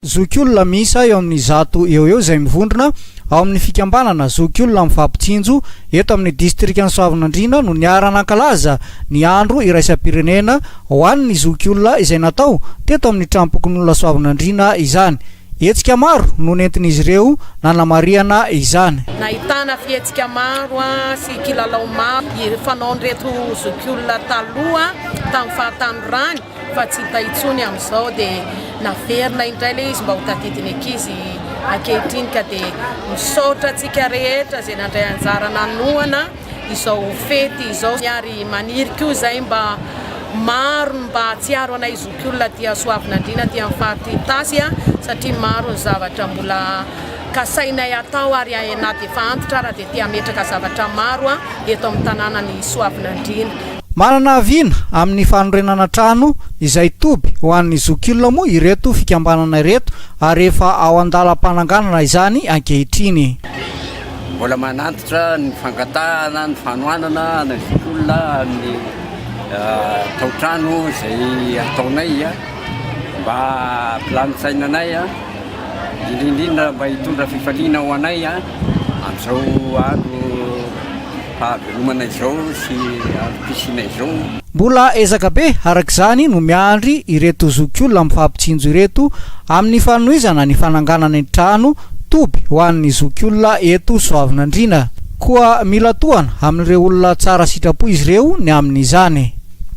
Zokiolona miisa eo amin'ny zato eo ho eo izay mivondrona ao amin'ny fikambanana Zokiolona Mifampitsinjo eto amin'ny distrikan'i Soavinandriana no niara-nankalaza ny andro iraisam-pirenena ho an'ny zokiolona izay natao teto amin'ny tranom-pokonolona Soavinandriana izany. Hetsika maro no nentin'izy ireo nanamarihana izany. Nahitana fihetsika maro sy kilalao maro fanaon'ireto zokiolona taloha tamin'ny fahatanorany fa tsy hita intsony amin'izao dia naverina indray ilay izy mba ho tadidin'ny ankizy ankehitriny ka dia misaotra antsika rehetra izay nandray anjara nanohana izao fety izao ary maniry koa izay mba maro ny mba hatsiaro anay zokiolona aty Soavinandriana aty amin'ny faritra Itasy satria maro ny zavatra mbola kasainay atao ary na dia efa antitra ary dia te hametraka zavatra maro eto amin'ny tanànan'i Soavinandriana. Manana aviana amin'ny fanorenana trano izay toby ho an'ny zokiolona moa ireto fikambanana ireto ary efa ao an-dalam-pananganana izany ankehitriny. Mbola manantitra ny fangatahana ny fanohanana anay zokiolona amin'ny tao-trano izay ataonay mba hampilamin-tsaina anay, indrindra indrindra mba hitondra fifaliana ho anay amin'izao andro. Hahavelomana izao sy hampisiana izao. Mbola ezaka be araka izany no miandry ireto zokiolona mifampitsinjo ireto amin'ny fanohizana ny fananganana ny trano toby ho an'ny zokiolona eto Soavinandriana. Koa mila tohana amin'ireo olona tsara sitrapo izy ireo ny amin'izany.